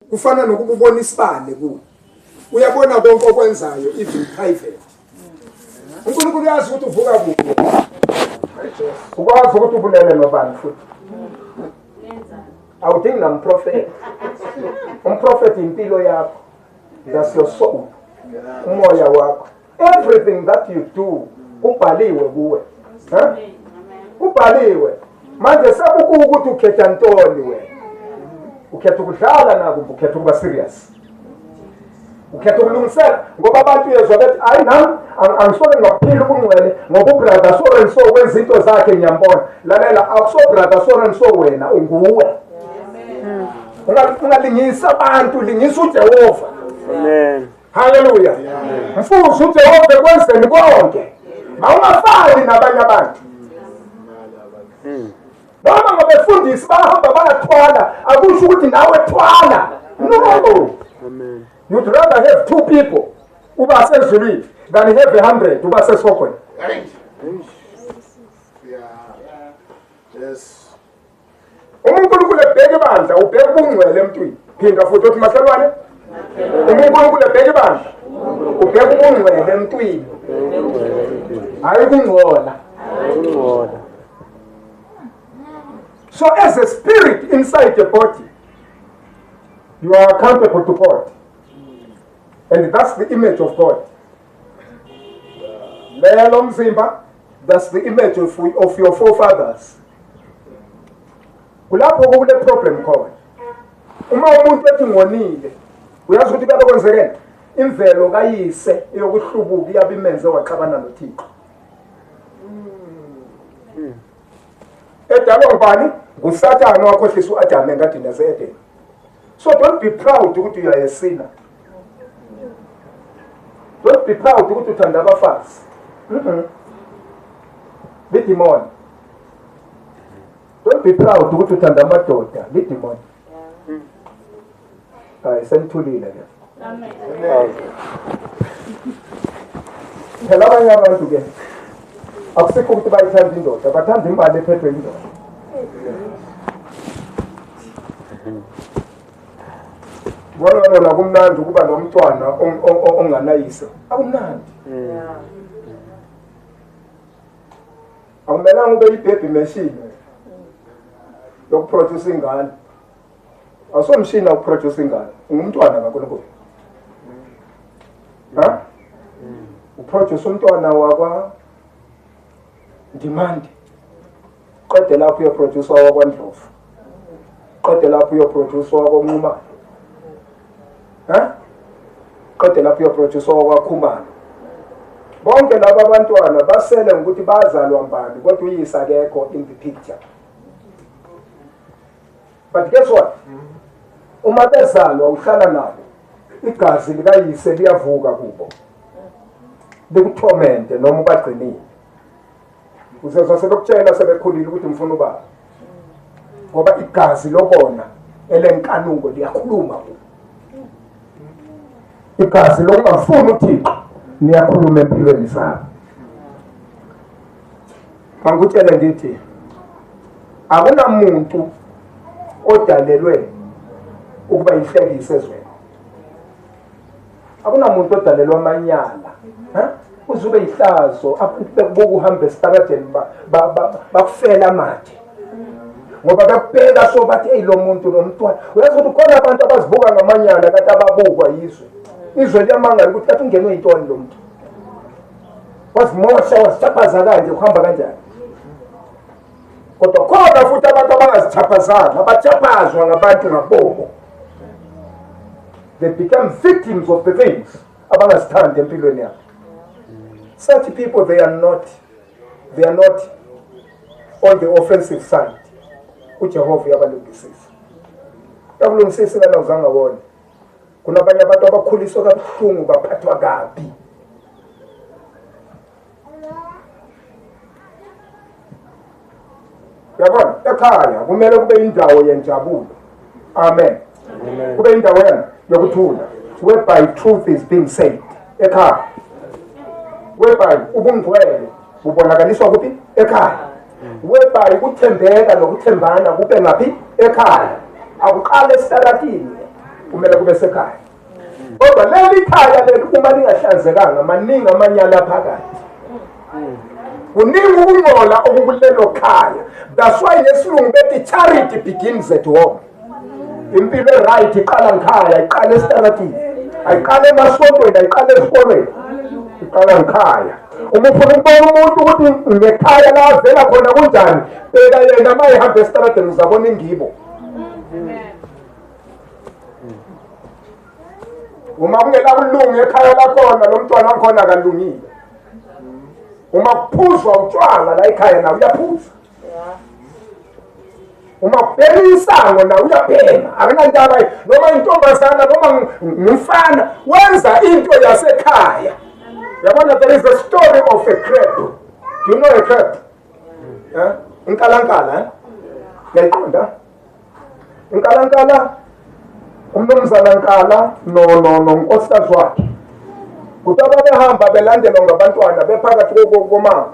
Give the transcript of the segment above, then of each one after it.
kufana nokuba ubona isibane kuwe uyabona konke okwenzayo even private unkulunkulu uyazi ukuthi uvuka kuphi ukwazi ukuthi ubulele nobani futhi awudingi namprofethi umprofethi impilo yakho that's your soul umoya wakho everything that you do kubhaliwe kuwe kubhaliwe manje sekukuwe ukuthi ukhetha ntoni wena ukhetha ukudlala naku ukhetha ukuba serious ukhetha ukulungisela ngoba abantu uyezwa bethi hayi nam angisole ngaphila ubungcwele ngoba ubrother so and so wenza into zakhe ngiyambona lalela akusobrother so and so wena unguwe ungalingisa abantu lingisa ujehova amen haleluya mfushi ujehova ekwenzeni konke mawungafani nabanye abantu hmm. noma ngabefundisi bahamba bayathwala akusho ukuthi nawe thwala no you'd rather have two people uba sezulwini than have a hundred uba sesihogweni Yes. uma unkulunkulu ebheka ibandla ubheka ubungcwele emntwini phinda futhi othi makhelwane uma unkulunkulu ebheka ibandla ubheka ubungcwele emntwini hhayi ukungcola so as a spirit inside the body you are accountable to god and that's the image of god lelo mzimba that's the image of, of your forefathers kulapho kukule problem khona uma umuntu ethi ngonile uyazi ukuthi kuyabe kwenzekeni imvelo kayise yokuhlubuka iyabe imenze waxabana nothixo edalwa ngubani ngusathane wakhohlisa u-adamu engadini yase-edeni so don't be proud ukuthi you are a sinner don't be proud ukuthi uthanda abafazi mhm bidimoni don't be proud ukuthi uthanda amadoda bidimoni hayi senithulile ke phela abanye abantu ke akusikho ukuthi bayithanda indoda bathanda imali ephethwe indoda bona nona kumnandi ukuba nomntwana onganayise akumnandi akumelanga ube yibhebhi meshini yokuproduce ingane awusomshini awuproduce ingane ungumntwana kaNkulunkulu ha uproduce umntwana wakwa demand qede lapho uyoproduce wakwandlovu qede lapho uyoproduce wakonqumane ha qede lapho uyoproduce wakwakhumane bonke laba abantwana basele ngokuthi bazalwa mbani kodwa uyisa kekho in the picture but guess what uma bezalwa uhlala nabo igazi likayise liyavuka kubo likuthomente noma ubagcinile uzezwa sebekutshela sebekhulile ukuthi ngifuna ubaba ngoba igazi lokona elenkanuko liyakhuluma kubo igazi lokungafuni uthixo niyakhuluma empilweni zabo Mangikutshele ngithi akunamuntu odalelwe ukuba inhlekise ezweni. Akunamuntu odalelwa amanyala. Ha? Uzube ihlazo abantu bekubuka uhamba esitaradeni bakufela amathe. ngoba bekubheka so bathi eyi lo muntu lo mntwana uyazi ukuthi khona abantu abazibuka ngamanyala kade ababukwa yizwe izwe liyamangala ukuthi kathi ungenwe yintoni lo muntu wazimosha wazithaphaza kanje kuhamba kanjani kodwa khona futhi abantu abangazithaphazanga abathaphazwa ngabantu ngabobo they become victims of the things abangazithandi empilweni yabo such people they are not they are not on the offensive side ujehova uyabalungisisa yakulungisisa ingane awuzange wona kunabanye abantu abakhuliswe kabuhlungu baphathwa kabi yabona ekhaya kumele kube indawo yenjabulo amen kube indawo yena yokuthula whereby truth is being said ekhaya whereby ubungcwele bubonakaliswa kuphi ekhaya whereby ukuthembeka nokuthembana kube ngaphi ekhaya akuqale esitaratini kumele kube sekhaya kodwa leli khaya leli uma lingahlanzekanga maningi amanyala phakathi kuningi ukungcola okukulelo khaya that's why ngesilungu bethi charity begins at home impilo e-right iqala ngikhaya iqala esitaratini ayiqala emasontweni ayiqala esikolweni iqala ngikhaya uma ufuna ukubona umuntu ukuthi ngekhaya la avela khona kunjani beka yena uma ehamba esitaradeni uzabona ingibo uma kungenakulunga ekhaya lakhona lo mntwana wakhona akalungile uma kuphuzwa utshwala la ekhaya nawo uyaphuzwa uma ubhema insango nawe uyabhema akunandaba noma intombazana noma ngumfana wenza into yasekhaya yabona there is a story of a crab do you know a crab eh inkalankala eh yayiqonda inkalankala umnumzana nkala no no no nkosikazi wakhe kuthi ababehamba belandelwa ngabantwana bephakathi komama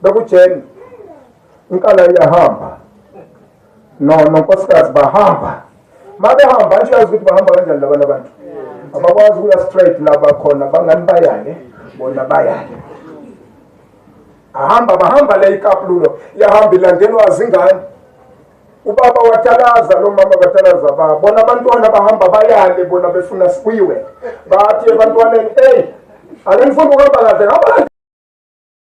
bekujeni inkala iyahamba no nonkosikazi bahamba mabehamba nje yazi ukuthi bahamba kanjani labana abantu abakwazi ukuya straight laba khona bangani bayale bona bayale ahamba bahamba le ikapululo yahamba ilandelwa zingane ubaba watalaza lo mama batalaza ba bona abantwana bahamba bayale bona befuna sibuyiwe bathi ebantwaneni eyi ake ngifuna ukuhamba kahle ngaba